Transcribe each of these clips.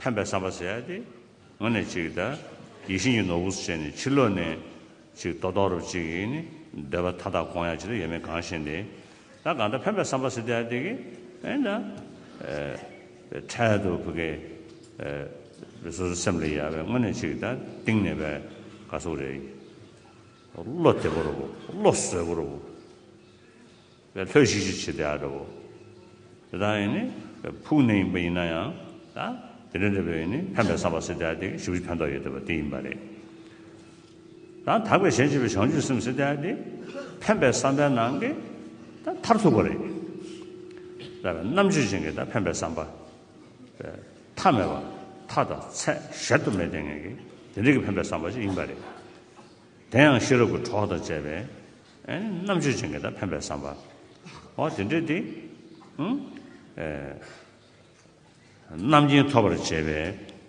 ཕན་པའི་བསམ་པ་བྱས་ཏེ། ངོ་ནས་ཅིག་གདའ། ཡིད་བཞིན་གྱི་ནོར་བུ་སུ་བྱས་ནས་ཕྱིར་ལོག་ནས། ཅིག་རྟོག་རྟོག་རུ་ཅིག་གིས་ནི། འདོད་པ་མཐའ་དག་གང་ཡང་ཅི་ལ་ཡོད་མེད་གང་ཞེན་ཏེ། ད་གང་འདྲ་ཕན་པའི་བསམ་པ་བྱས་ཏེ་ཨ་ཏི་གི། ཨེ་འདྲ། འཕྲལ་དུ་བུ་གའི། བུ་སོ་སོའི་སེམས་ལ་ཡལ་བས་ངོ་ནས་ཅིག་གདའ། གཏིང་ནས་བས། ག་སོགས་རེ། བློ་བདེ་པོར་བོ། བློ་བཟོད་པོར་བོ། བའི་ལྷོད་གཞིག་ཅིག་བྱེད་བདེ་བ་འདྲ་བོ། དེ་དག་ཡིན་ནི་ཕུགས་ནས་ཡིན་པ་ཡིན་ན་ཡང། དེ་འདྲ་འདྲ་བོས་ཡིན་ནི་ཕན་པའི་བསམ་པ་སེ་བདེ་བ་དེ་ཞིབ་ཅིག་ཕན་ཐོགས་ཡོད་བདེ་བ་དེ་ཡིན་པ་རེད། དང་དག་པའི་ཞལ་ཕྱེས་པའི་བྱང་ཆུབ་སེམས་སེ་བདེ་བ་དེ་ཕན་པའི་བསམ་པའི་ནང་གི་མཐར་ཐུག་པ་རེད། ལ་བའི་རྣམ་དཔྱོད་ཅན་གྱི་ཕན་པའི་བསམ་པ། པའི་མཐའ་མེད་པ་མཐའ་དང་ཚད་གཞལ་དུ་མེད་ལྡན་ངེས་ཀྱི་དེ་འདྲ་གྱི་ཕན་པའི་བསམ་པ་ཞིག་ཡིན་པ་རེད། དེ་ཡང་ཤེས་རབ་ཀྱི་གྲོགས་དང་བཅས་པའི་རྣམ་དཔྱོད་ཅན་གྱི་དང་ཕན་པའི་བསམ་པ། ཨོ་དེ་འདྲས་ཏེ། རྣམ་མཁྱེན་ཐོབ་པར་བྱེད་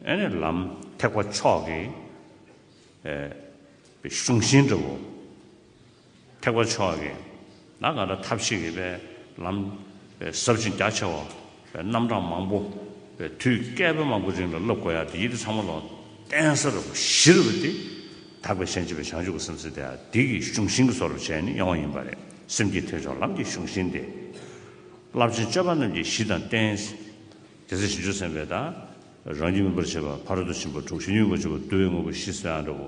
པའི་ལམ་ཐེག་པ་མཆོག་གི་གཞུང་བཞིན་འགྲུབ་བོ། ཐེག་པ་མཆོག་གི་ན་ག་ད་ཐབས་ཤེས་ཀྱི་པའི་ལམ་ཟབ་ཅིང་རྒྱ་ཆེ་བ། རྣམ་གྲངས་མང་པོ། པའི་དུས་བསྐལ་པ་མང་པོའི་རིང་ལ་བསླབ་དགོས་ཡག་སྟེ་ཡིད་དེ་ཚང་མ་ལོ་གཏན་ས་རབ་བཞི་རུ་བབས་ཏེ། དག་པའི་ཤན་འབྱེད་པའི་བྱང་ཆུབ་ཀྱི་སེམས་སེམས་དེ་ཡང་དེ་གི་གཞུང་བཞིན་གྱི་སོ་རབ་བྱས་ནས་ཡོང་བ་ཡིན་པ་རེད། སེམས་ཀྱི་ཐོས་ཆོག་ལམ་གྱི་གཞུང་བཞིན་ཏེ། རླབས་ཆེན་སྤྱོད་པ་རྣམས་ཀྱི་གཞི་དང་རྟེན། དེ་ཚེ་ཞིང་བཅུ་སེམས་དཔའི་དང། རང་རྒྱུད་སྨིན་པར་བྱེད་པ་ཕ་རོལ་ཏུ་ཕྱིན་པ་དྲུག་ཤེས་ཉོན་མོངས་པ་བཅུ་པོ་བསྡུ་བའི་དངོས་པོ་བཞི་སོ་ཡང་འདྲ་བོ།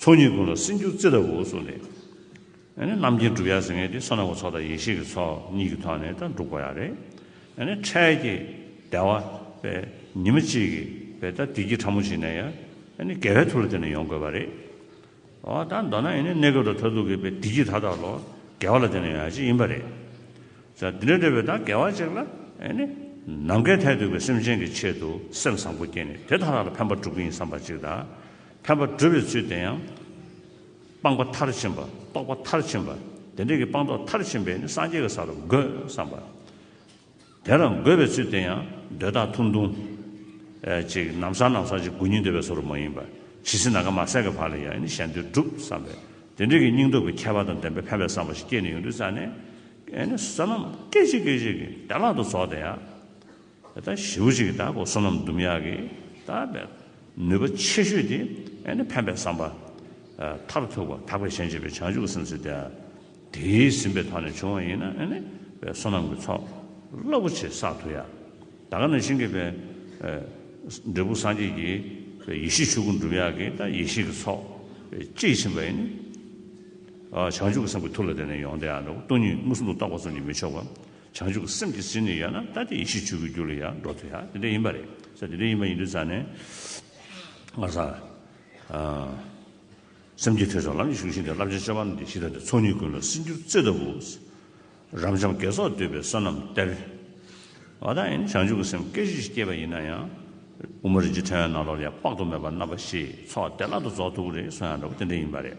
ཚོགས་གཉིས་ཀུན་ལ་སྲིད་འགྱུར་རྩི་ལྟ་བུའོ་གསུངས་ཏེ། རྣམ་མཁྱེན་གྲུབ་ཡ་ཟེར་ངེས་ཏེ་ས་ནག་པོ་ཚོགས་དང་ཡེ་ཤེས་ཀྱི་ཚོགས་གཉིས་ཀྱི་ཐོག་ནས་དང་འགྲུག་པ་ཡང་རེད། འཕྲལ་གྱི་བདེ་བ་བས་ཉི་མ་གཅིག་གི་བས་ད་ལྟའི་ཁྱི་ཕྲ་མོ་ཞིག་ནས་ཡང་དགེ་བའི་ཐུགས་ལ་བརྟེན་ནས་ཡོང་དགོས་པ་རེད། འོ་ད་མདོར་ན་ཡང་གནས་སྐབས་དང་མཐར་ཐུག་གི་བས་འདི་ཁྱི་ད་ལྟ་ལོ་དགེ་བ་ལ་བརྟེན་ནས་ཡོང་ཡ་གཅིག་ཡིན་པ་རེད། ད་འདི་འདྲ་འདྲ་བའི་ད་དགེ་བ་གཅིག་ལ་ནམ་མཁའི་མཐས་གཏུགས་པའི་སེམས་ཅན་གྱི་ཆེད་དུ་སེམས་བཟང་པོ་བསྐྱེད་ནས་དེ་ད་ལྟ་ལ་ཕན་པ་སྒྲུབ་ཀྱི་ཡིན་བསམ་པ་གཅིག་དང། ཕན་པ་བསྒྲུབ་པའི་ཚུལ་དེ་ཡང། སྤངས་པ་མཐར་ཕྱིན་པ་རྟོགས་པ་མཐར་ཕྱིན་པ་དེ་འདྲ་གྱི་སྤངས་རྟོགས་མཐར་ཕྱིན་པས་ནི་སངས་རྒྱས་ཀྱི་ས་རུ་འགོད་བསམ་པ། དེ་ལ་འགོད་པའི་ཚུལ་དེ་ཡང་འདོད་ཐག་ཐུང་ཐུང། ཅིག་ནམ་སང་ནམ་སང་ཅིག་དགུན་ཉི་ཟློས་པའི་ས་རུ་མ་ཡིན་པར་ཇི་སྲིད་ན་ག་མ་སད་ཀྱི་བར་ལ་ཡང་ནི་གཞན་དོན་བསྒྲུབ་བསམ་པས་དེ་འདྲ་གྱི་སྙིང་སྟོབས་ཀྱི་ཁྱད་པར་དང་ལྡན་པའི་ཕན་པའི་བསམ་པ་ཞིག་སྐྱེས་ནས་ཡོང་དུས་རྩ་ནས། བསོད་ནམས་སྐད་ཅིག་སྐད་ཅིག་གིས་བདེ་བླག་ཏུ་རྫོགས་ཏེ་ཡང། ད་ཞེའུ་གཅིག་ད་གོ་སོ་ནམ་ཟླུམ་ཡག་གི་ད་ནུས་པ་ཆེ་ཤོས་དེ་ནི་ཕན་པའི་བསམ་པ། མཐར་ཐུག་པ་དག་པའི་ཞེན་བྱེད་པའི་བྱང་ཆུབ་སེམས་ཚོལ་དེ། དེའི་ཟིན་པའི་ཐོག་ནས་བྱུང་བ་ཡིན་ན་ནི་བའི་སོ་ནམ་གྱི་ཚོགས་རླབས་པོ་ཆེ་བསགས་ཐུབ་ཡ། ད་ག་ནས་ཤིང་གི་བའི། འབྲས་བུ་སངས་རྒྱས་ཀྱི། བའི་ཡེ་ཤེས་ཆོས་སྐུ་འགྲུབ་ཡག་གི་ད་ཡེ་ཤེས་ཀྱི་ཚོགས། གཅིག་ཕྱིན་པ་ཡིན་ནི། བྱང་ཆུབ་ཀྱི་སེམས་ཀྱི་ཐུགས་ལ་དེ་ནས་ཡོང་དེ་ཡང་འགྲོ་གོ་སྟོང་ཉིད་དངོས་སུ་ལུགས་རྟོགས་པ་ཙམ་གྱིས་མི་ཆོག་གོ། བྱང་ཆུབ་སེམས་ཀྱི་ཟིན་ནས་ཡལ་ན་ལྟ་སྟེ་ཡེ་ཤེས་ཆོས་ཀྱི་རྒྱུ་ལ་ཡང་འགྲོ་ཐུ་ཡ་དེ་འདྲ་ཡིན་པ་རེད་ས་དེ་འདྲ་ཡིན་པ་ཡིན་དུས་ཙང་ནས་ང་ས་སེམས་ཀྱི་ཐོས་བསམ་ལམ་གྱི་གཞུང་བཞིན་དུ་བསླབ་བྱ་བཅའ་བ་ན་འདི་ཤི་ད་དེ་ཚོགས་གཉིས་ཀུན་ལ་སྲིད་འགྱུར་བརྩེ་ལྟ་བུ། རབ་འབྱམས་དགེ་ཚོགས་འདོད་པའི་བསོད་ནམས་གཏེར། བ་དག་ཡིན་བྱང་ཆུབ་སེམས་སྐད་གཞི་ཞིག་སྐྱེས་པ་ཡིན་ན་ཡང། དབུ་མ་རིན་ཆེན་ཕྲེང་བའི་ནང་ལོགས་ལས་དཔག་ཏུ་མེད་པ་རྣམ་པ་བཞིས་ཚོགས་བདེ་བླག་ཏུ་རྫོགས་ཐུབ་ཀྱི་རེད་སོ་ཡང་འདྲ་བོ་དེ་འདྲ་ཡིན་པ་རེད།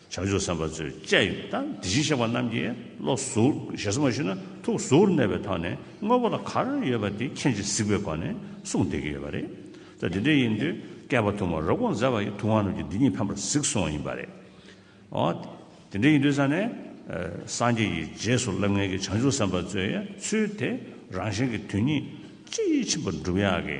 བྱང་ཆུབ་སེམས་དཔའ་ཚུལ་བཅས་ཡོད་དང་དེ་བཞིན་གཤེགས་པ་རྣམས་ཀྱིས་བློ་གཟུགས་ཞེ་ས་མ་ཞུ་ན་ཐུགས་གཟུགས་གནས་པའི་ཐོག་ནས་དངོས་པོ་ལ་གར་ཡོད་པ་དེ་མཁྱེན་ཅིང་གཟིགས་པའི་སྒོ་ནས་གསུངས་བསྡད་ཀྱི་ཡོད་པ་རེད། ད་དེ་འདྲ་ཡིན་དུས་བསྐལ་པ་ཐུང་བ་རབ་གོང་མཛད་པ་ཡི་ཐུགས་དབང་རྣམས་ཀྱིས་འདི་ཉིད་ཕན་པར་གཟིགས་སོང་བ་ཡིན་པ་རེད། འོ། དེ་འདྲ་ཡིན་དུས་ས་ནས་སངས་རྒྱས་ཀྱི་རྗེས་སུ་བསླབ་ངེས་ཀྱི་བྱང་ཆུབ་སེམས་དཔའ་གཙོས་ཡའི་ཚུལ་དེ་རང་གཞན་གྱི་དོན་གཉིས་ཅི་ཕྱིན་པར་འགྲུབ་ཡག་གི།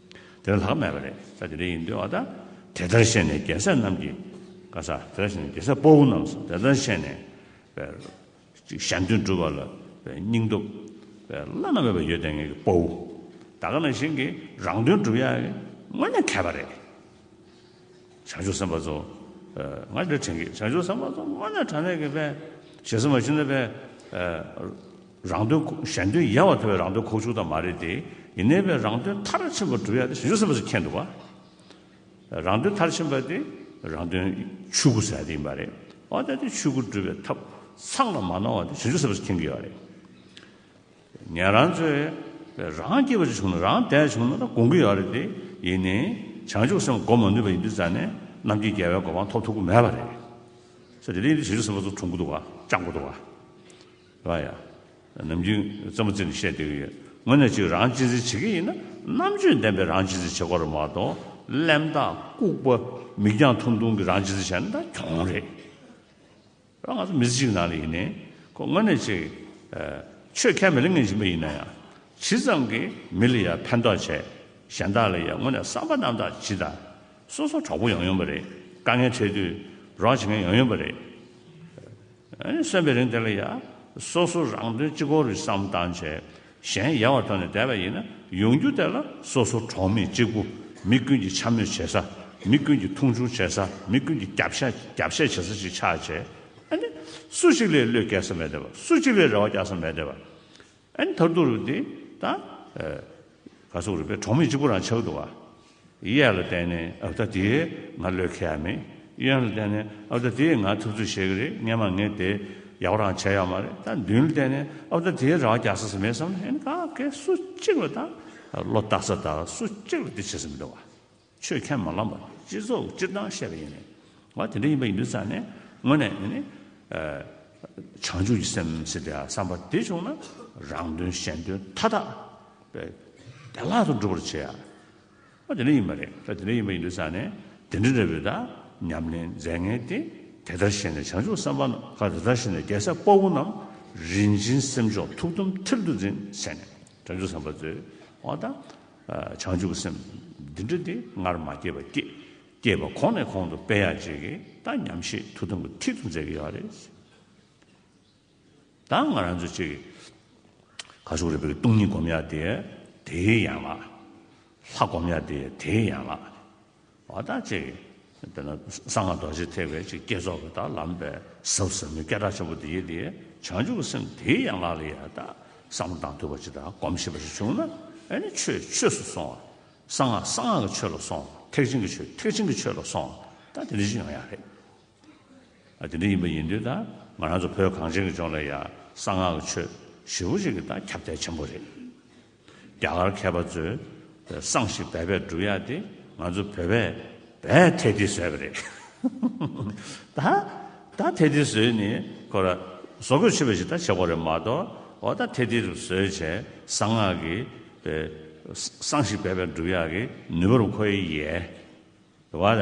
དེ་ལ་ལྷག་མེད་པ་རེད་ས་དེ་འདྲ་ཡིན་འདོད་བ་དང། དེ་ལྟར་བཤད་ནས་རྒྱལ་སྲས་རྣམས་ཀྱིས། ཀ་ས་དེ་ལྟར་བཤད་ནས་རྒྱལ་སྲས་སྤོ་བོ་རྣམས་སུ་དེ་ལྟར་བཤད་ནས། པའི་ཞལ་འདོན་བསྒྲུབ་པ་ལ་པའི་སྙིང་སྟོབས། པའི་བླ་ན་མེད་པ་ཡོད་དེ་ངེད་ཀྱི་སྤོ་བོ། ད་ག་ན་བཞིན་གྱིས་རང་དོན་བསྒྲུབ་ཡ། དངོས་གནས་མཁས་པ་རེད། བྱང་ཆུབ་སེམས་དཔའ་རྫོགས། སྔར་འདིར་དྲན་གྱི་བྱང་ཆུབ་སེམས་དཔའ་རྫོགས་སྔོན་ནས་དྲན་ནས་ཀྱི་དཔལ། ཞེ་ས་མ་ཞུ་ན་དཔལ། རང་དོན་གཞན་དོན་ཡལ་བ་ཐོས་པས་རང་དོན་ཁོག་ཕྱུགས་དང་མ་རེད་དེ། ཡིན་ནའི་དཔལ་རང་དོན་མཐར་ཕྱིན་པར་གྲུབ་ཡག་དེ་བྱང་ཆུབ་སེམས་དཔའ་སུ་མཁྱེན་འདུག་བ། རང་དོན་མཐར་ཕྱིན་པ་དེ་རང་དོན་ཆོས་སྐུ་ཟད་དེ་ཡིན་པ་རེད། འོ་ད་དེ་ཆོས་སྐུ་སྒྲུབ་པའི་ཐབས་ཚང་ལ་མ་གནང་བ་དེ་བྱང་ཆུབ་སེམས་དཔའ་སུ་མཁྱེན་གྱི་ཡོད་རེད། ངས་རང་ཚོས་རང་སྐྱེས་པ་ཅིག་བྱུང་ན་རང་བདེ་བ་བྱུང་ན་དགོངས་ཀྱི་ཡོད་རེད་དེ། ཡིན་ནའི། བྱང་ཆུབ་སེམས་བསྒོམ་མ་ནུས་པ་ཡིན་དུས་རྩ་ནས་ནམ་རྒྱུན་རྒྱལ་བའི་གོ་འཕང་ཐོབ་ཐུབ་ཀྱི་མེད་པ་རེད། ས་དེ་རིང་དུས་བྱིས་བློ་སེམས་པ་ཚོ་འཁྲུག་འགོ་འདུག་ཨ་ཅག་འགོ་འདུག་ཨ། ཨ་ཡ། ནམ་རྒྱུན་རྩེད་མོ་རྩེ་ནས་བཤད་སྡོད་ཀྱི་ཡོད། ངོ་ནས་ཅིག་རང་གཅེས་འཛིན་བྱེད་ཀྱི་ཡིན་ན་རྣམ་དཔྱོད་ལྡན་པའི་རང་གཅེས་འཛིན་བྱེད་དགོས་རེད་མ་གཏོགས་གླེན་རྟགས་ལྐུགས་པ་མིག་རྒྱང་ཐུང་ཐུང་གི་རང་གཅེས་འཛིན་བྱས་ན་ད་གྱོང་རེད། ང་ཚོ་མི་གཅིག་ནང་ལ་ཡིན་ནའི་ཁོ་དངོས་གནས་ཆེ་ཆོས་ཁས་མི་ལེན་མཁན་ཞིག་མ་ཡིན་ན་ཡང་ཇི་ཙམ་གྱིས་མི་ལ་ཡང་ཕན་ཐོགས་བྱས་གཞན་དག་ལ་ཡང་དངོས་གནས་བསམ་པ་རྣམ་དག་ཇི་ལྟ་སོ་སོ་གྲོགས་པོ་ཡང་ཡོང་པ་རེད་དཀའ་ངལ་འཕྲད་དུས་རོགས་བྱེད་མཁན་ཡང་ཡོང་པ་རེད་གསོན་པའི་རིང་དེ་ལ་ཡང་སོ་སོ་རང་དོན་གཅིག་གོ་རེ་བསམ་བཏང་བྱས། གཞན་ཡལ་བ་ཐོན་ནས་བསྡད་པ་ཡིན་ན་ཡོང་རྒྱུ་དེ་ལ་སོ་སོ་གྲོགས་མེད་གཅིག་པུ་མི་ཀུན་གྱིས་འཕྱ་སྨོད་བྱེད་ས་མི་ཀུན་གྱིས་མཐོང་ཆུང་བྱེད་ས་མི་ཀུན་གྱིས་རྒྱབ་བཤད་བྱེད་ས་ཞིག་ཆགས་བྱས་ཨ་ནི། སུ་གཅིག་ལས་བློས་འགེལ་ས་མེད་བསྡད་པ་སུ་གཅིག་ལས་རེ་བ་རྒྱག་ས་མེད་བསྡད་པ་ཨ་ནི་ད་དུང་རུ་འདི་ད་ག་སོག་རུ་པའི་གྲོགས་མེད་གཅིག་པུ་རང་ཆགས་འདུག་ཨ། གཡས་ལ་བལྟས་ནས་ཨ་བདག་དེས་ང་བློས་འཁེལ་ཡ་མེད་གཡོན་ལ་བལྟས་ནས་ཨ་བདག་དེས་ང་ཐུབ་ཚོད་བྱེད་ཀྱི་རེད་སྙན་མ་ངས་དེ་ཡག་པོ་རང་བྱས་ཡོད་མ་རེད་ད་མདུན་ལ་བལྟས་ནས་ཨ་བདག་དེས་རང་རྒྱག་ས་ས་མེད་བསམ་ནས་ཨེ་ན་ག་གེ་སུ་གཅིག་ལ་དང་བློ་བཏགས་ས་དང་སུ་གཅིག་ལ་དེ་བྱེད་ས་མི་འདུག་བ། ཆོས་ཁས་མ་བླངས་པ་དེ་སྤྱི་ཚོགས་སྤྱིར་བཏང་བཤད་པ་ཡིན་ནས་བ་དེ་འདྲ་ཡིན་པ་ཡིན་དུས་ཙམ་ནས་དངོས་ནས་ཨེ་ནི། བྱང་ཆུབ་ཀྱི་སེམས་སེམས་དེ་ཡ་བསམ་པ་དེ་བྱུང་ན་རང་དོན་གཞན་དོན་མཐའ་དག་བདེ་བླག་ཏུ་འགྲུབ་པར་བྱེད། ཨ་དེ་འདྲ་ཡིན་པ་རེད་ད་དེ་འདྲ་ཡིན་པ་ཡིན་དུས་ཙང་ནས་དེ་འདྲ་རེད་བོད་ད་ཉམས་ལེན་མཛད་ངེས་ཏེ་དེ་ལྟར་ཤེས་ནས་བྱང་ཆུབ་སེམས་དཔའ་ནམ་མཁའ་དེ་ལྟར་ཤེས་ནས་རྒྱལ་སྲས་དཔའ་བོ་རྣམས་རིན་ཆེན་སེམས་མཆོག་ཐུགས་དམ་མཐིལ་དུ་འཛིན་བྱས་ནས་བྱང་ཆུབ་སེམས་དཔའ་རྩོད་འོ་ད་བྱང་ཆུབ་སེམས་འདི་འདྲ་དེ་སྔར་མ་སྐྱེས་པ་སྐྱེས་སྐྱེས་པ་གོང་ནས་གོང་དུ་སྤེལ་ཡག་བྱེད་ཀྱི་ད་ཉམས་བཞེས་ཐུགས་དམ་གྱི་མཐིལ་དུ་མཛད་ཀྱི་ཡོད་རེད། དང་ང་རང་ཚོ་ཅིག་ག་ཤོག་རི་བོའི་སྟོང་ཉིད་སྒོམ་ཡག་དེ་དེའི་ཡན་ལག། ལྷ་སྒོམ་ཡག་དེ་དེའི་ཡན་ལག། བ་དག་ཅིག་དེ་ན་གསང་སྔགས་རྡོ་རྗེ་ཐེག་པའི་ཅིག་བསྐྱེད་རྫོགས་ཀྱི་དག་ལམ་པའི་ཟབ་ཟབ་མོའི་སྐད་གྲགས་ཆེན་པོ་དེ་ཡིད་དེ་བྱང་ཆུབ་ཀྱི་སེམས་དེའི་ཡན་ལག་ལ་ཡལ་དག་བསམ་བློ་དང་དུ་བ་ཅིག་དག་སྒོམ་ཤེས་པ་ཞིག་བྱུང་ན་ཨེ་ནི་ཆོས་ཆོས་སུ་སོང་བ། གསང་སྔགས་གསང་སྔགས་ཀྱི་ཆོས་ལ་སོང་བ་ཐེག་ཆེན་གྱི་ཆོས་ཐེག་ཆེན་གྱི་ཆོས་ལ་སོང་བ་དག་དེ་འདྲ་ཞིག་ཡོང་ཡག་རེད། དེ་འདྲ་ཡིན་པ་ཡིན་དུས་ད་ང་རང་ཚོ་བོད་གངས་ཅན་གྱི་ལྗོངས་ལ་ཡང་གསང་སྔགས་ཀྱི་ཆོས་ཞེ་བོ་ཅིག་གི་ད་ཁྱབ་གདལ་ཆེན་པོ་རེད། རྒྱ་གར་མཁས་པ་ཚོས་གསང་ཞིག་འབད་པས་བསྒྲུབ་ཡག་དེ་ང་ཚོ་བོད་པས་འབད་ཐེ་ཐི་ཟོས་པ་རེད། ད་ད་ཐེ་ཐི་ཟོས་ནི་ཁོ་ར་བཟོ་དགོས་ཆེ་བ་ཞིག་ད་བྱེད་དགོས་རེད་མ་གཏོགས་འོ་ད་ཐེ་ཐི་རུ་ཟོས་བྱས་གསང་སྔགས་ཀྱི་གསང་ཞིག་འབད་པས་བསྒྲུབ་ཡག་གི་ནུས་པ་རུ་ཁོ་ཡི་ཡའི་བ་ར།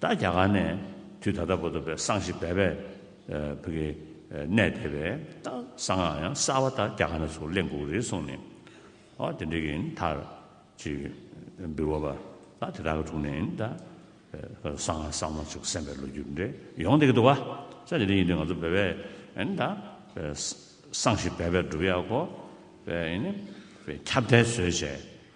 ད་རྒྱ་གར་ནས་དུས་ད་ལྟ་བོ་དོ་བས་སང་ཞིག་བས་བས་བོད་ཀྱི་གནས་དེ་བས་ད་སང་ང་ཡང་གསར་བ་ད་རྒྱ་གར་ནས་ཚུར་གླེང་དགོས་རེད་གསུངས་ནས་ཨོ་དེ་འདྲ་གི་ཡིན་མཐར་ཅིག་འབུལ་བ་བ་ད་དེ་དག་གི་དྲུང་ནས་ཡིན་ད་སང་ང་སང་མ་ཅིག་སེམས་པའི་ལོ་རྒྱུས་འདྲ་ཡོང་སྡད་ཀྱི་འདུག་བ་ས་དེ་འདྲ་ཡིན་དུས་ང་ཚོ་བས་བས་ཡིན་ད་སང་ཞིག་བས་བས་བསྒྲུབ་ཡག་གོ་བས་ཡིན་བས་ཁྱབ་བརྡལ་བཟོས་བྱས།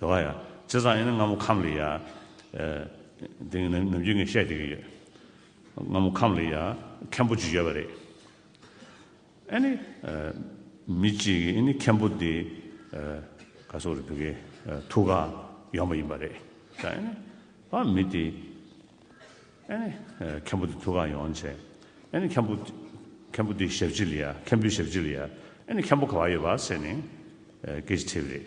དེ་བ་ཡང་ཇི་ཙམ་ཡིན་ན་སྔ་མོ་ཁམས་ལི་ཡ། དེ་ནི་ནམ་རྒྱུན་ངས་བཤད་བསྡད་ཀྱི་ཡོད། སྔ་མོ་ཁམས་ལི་ཡ་མཁན་པོ་ཅིག་ཡོད་པ་རེད། ཨ་ནི། མི་གཅིག་གིས་ཨི་ནི་མཁན་པོ་འདི། ག་སོ་རེད་འདུག་གི། ཐུགས་ཀར་ཡོང་བ་ཡིན་པ་རེད། ད་ཨི་ནི། ཨ་མི་དེ། ཨ་ནི། མཁན་པོ་འདི་ཐུགས་ཀར་ཡོང་བྱས། ཨ་ནི་མཁན་པོ། མཁན་པོ་འདི་ཞབས་ཕྱི་ལི་ཡ། མཁན་པོའི་ཞབས་ཕྱི་ལི་ཡ། ཨ་ནི་མཁན་པོ་ག་བ་ཡོད་པ་ཟེར་ནས། སྐད་ཅིག་ཐེབས་རེད།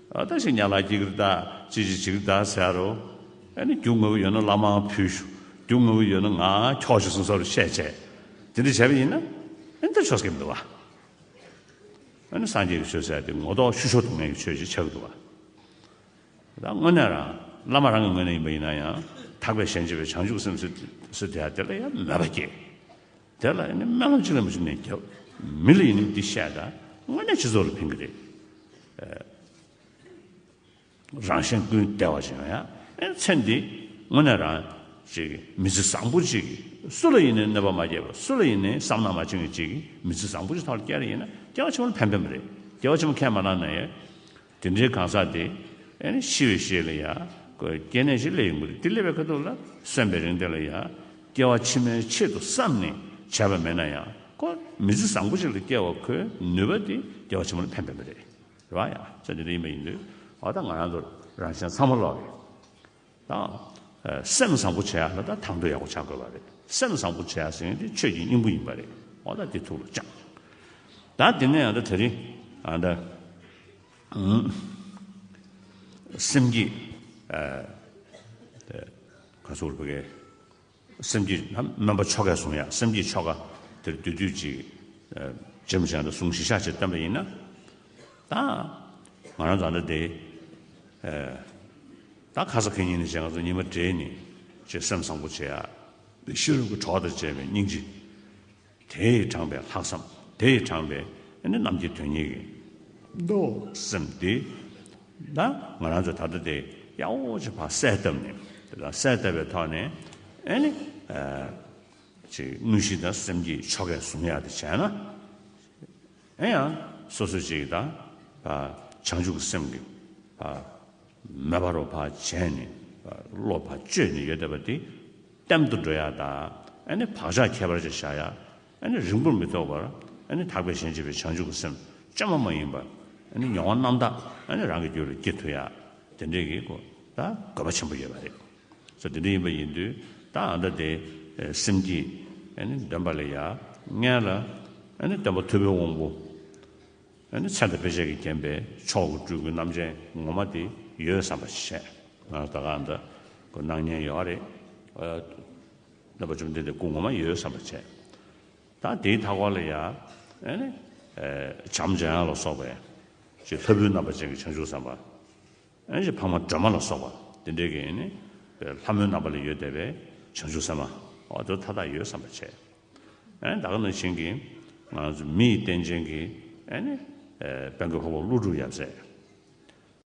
བདག་ཅིག་ཉལ་ལ་སྐྱི་ཀིར་བདག། ཅི་བྱེད་ཅིག་བདག་ཟེར་རོ། ཨེ་ནི་རྒྱུ་ངོ་བོ་ཡོད་ན་བླ་མའང་ཕུལ། རྒྱུ་ངོ་བོ་ཡོད་ན་ང་ཁྱོགས་ཤིག་གསུངས་ས་རུ་བཤད། ཅེས་དེ་འདྲ་བྱས་པ་ཡིན་ན། ཨེ་ནི་འདིར་ཆོས་སྐད་མི་འདུ་བ། ཨེ་ནི་སངས་རྒྱས་ཀྱི་ཆོས་ཟེར་ཏེ་ངོ་ལྡོག་ཤུ་ཤོ་དུ་ངན་གྱི་ཆོས་ཞེས་བྱ་གི་འདུ་བ། ད་དངོས་གནས་རང་བླ་མ་རང་གི་ངོས་ནས་ཡིན་པ་ཡིན་ན་ཡང། དག་པའི་ཞལ་མཇལ་བའི་བྱང་ཆུབ་སེམས། སུ་དེ་ཡང་དེ་ལ་ཡང་མོས་པ་སྐྱེས། དེ་ལ་ཡིན་ན་སྨན་ལམ་ཅིག་ལ་མི་ཅིག་ནས་རྒྱབ། མི་ལ་ཡིན་ན་འདི་བཤད་དང་དངོས་གནས་སྤྱི་ཚོགས་ལ་ཕན་གི་རེད། རང་གཞན་ཀུན་བདེ་བ་ཅན་ཡང་ཚེ་འདི་དངོས་གནས་རང་ཅིག་མི་ཚེ་བཟང་པོ་ཅིག་སུ་ལ་ཡིན་ནས་གནོད་པ་མ་སྐྱེལ་བར་སུ་ལ་ཡིན་ནས་བསམ་ནག་མ་བྱིན་གྱི་ཅིག་མི་ཚེ་བཟང་པོ་ཅིག་ཐོག་ལ་བསྐྱལ་རེ་ཡིན་ན་སྐྱེལ་བ་ཆེན་པོ་ལ་ཕན་པའི་མ་རེད་སྐྱེལ་བ་ཆེན་པོ་ཁས་མ་བླངས་ན་ཡང། དེ་འདྲའི་གང་ཟག་དེ། ཤི་བའི་ཞེས་ལ་ཡང། སྐྱེ་གནས་ཞེས་ལས་ཡིན་པ་དེ་ལས་པའི་ཁ་དོག་ལ་སོན་པའི་རིང་དེ་ལ་ཡང། སྐྱེ་བ་ཕྱི་མའི་ཆེད་དུ་བསམས་ནས་བྱས་པ་མེད་ན་ཡང། ཁོ་མི་ཚེ་བཟང་པོ་ཞིག་ལ་སྐྱེ་བ་ཁོའི་ནུས་པ་དེ་སྐྱེ་བ་ཆེན་མོ་ལ་ཕན་པའི་མི་རེད། རེད་བ། ཡང་ས་དེ་འདྲ་ཡིན་པ་ཡིན་དུས། འོ་ད་ང་རང་ཚོ་རང་གཞན་ཚང་མ་ལོག་གི། དང། སེམས་བཟང་པོ་བྱ་ཡག་ལ་དང་དང་དོད་ཡག་པོ་བྱ་དགོས་པ་རེད། སེམས་བཟང་པོ་བྱ་ཡག་ཟེར་མཁན་དེ་ཆོས་ཀྱི་སྙིང་པོ་ཡིན་པ་རེད། འོ་ད་དེ་ཐུགས་ལ་བཅངས། ད་དེ་ནས་ཡང་ད་ད་རིང་ཡང་ད། སེམས་ཀྱི། ག་ཚོད་བོད་སྐད། སེམས་ཀྱིས་སྨོན་པ་ཆོ་གས་བཟུང་ཡང་སེམས་ཀྱིས་ཆོ་ག་དེར་འདུས་དུས་གཅིག། རྗེ་མི་ཆེན་དུ་གསུང་བཞིན་ཤ་ཆེར་བཏོན་པ་ཡིན་ན། ད། ང་རང་བཟའ་ཟླ་དེ། ད་ཁ་ས་ཁེ་གཉིས་ནི་བྱས་ང་ཚོ་གཉིས་མ་འདྲེས་ནི། ཅེས་སེམས་བཟང་པོ་བྱེད། ཕྱི་རོལ་གྱི་གྲོགས་དང་བཅས་པའི་སྙིང་རྗེ། དེ་ཡིས་དྲངས་པའི་ལྷག་བསམ། དེ་ཡིས་དྲངས་པའི་ནི་རྣམས་ཀྱི་དོན་ཉིད་ཡིན། ཏོ། སེམས་དེ་ན་ང་རང་ཚོ་ད་ལྟ་དེ་གཡག་འོག་གཅིག་ཕར་གསལ་བཏབ་ནས་དེ་དག་གསལ་བཏབ་པའི་ཐོག་ནས་ཨེ་ནི། ཅིག་དངོས་གཞི་དང་སེམས་ཀྱི་ཆོ་གས་བཟུང་ཡག་དེ་བྱས་ན། ཨེ་ཡང་སོ་སོ་ཅིག་དང་བྱང་ཆུབ་ཀྱི་སེམས་ཀྱི། མོས་པ་རོ་བར་བྱས་ནས་བློ་བར་གཅོད་ནས་ཡོད་བསྡད་པ་དེ། གཏན་དུ་འགྲོ་ཡང་དག། བག་ཆགས་ཁྱད་པར་ཅན་བཞག་ཡང། རིང་པོར་མི་ཐོགས་པར། དག་པའི་ཞེན་བྱེད་པའི་བྱང་ཆུབ་ཀྱི་སེམས། བཅོས་མ་མ་ཡིན་པ། མྱོང་བ་རྣམ་དག། རང་གི་རྒྱུད་ལ་སྐྱེ་འཐུས་ཡང། དེ་འདྲའི་གི། དགོས་པ་ཆེན་པོ་ཡོད་པ་རེད། སོ། དེ་འདྲ་ཡིན་པ་ཡིན་དུས། ད་ལྟ་དེ། སེམས་ཀྱིས། འདོན་པ་ལས་ཡ། ངན་ལ། བརྟེན་པ་ཐུ་བོའི་དབང་པོ། ནས་མཚན་དང་དཔེ་བྱད་ཀྱིས་བརྒྱན་པའི་མཆོག་གི་སྤྲུལ་སྐུ་རྣམ་ཅན་ངོ་མ་དེ་ཡོད་བསམ་པར་བྱས། ང་ད་གའ་འདི་ཀུན་སྣང་མཉན་ཡོད་རེད། བསྟན་པ་བཅོམ་ལྡན་འདི་སྐུ་ངོ་མ་ཡོད་བསམ་པར་བྱས། ད་དེའི་མཐའ་སྐོར་ལ་ཡང། བྱམས་ཆེན་ལ་སོགས་པའི། ཅེས་ལྷ་བུའི་རྣམ་པ་ཅན་གྱི་བྱང་ཆུབ་བསམ་པ། ཅེས་འཕགས་མ་སྒྲོལ་མ་ལ་སོགས་པ་དེ་འདྲའི་གིས། ལྷ་མོའི་རྣམ་པ་ལས་ཡོད་བསྡད་པའི་བྱང་ཆུབ་སེམས་མ། འོ་དོད་མཐའ་དག་ཡོད་བསམ་པར་བྱས། བདག་ནི་བྱིན་གྱིས་བརླབས། མི་ཡི་རྟེན་ཅན་གྱིས། དཔལ་གྱི་ཕོ་བ་ཀླུ་སྒྲུབ་ཡབ་སྲས།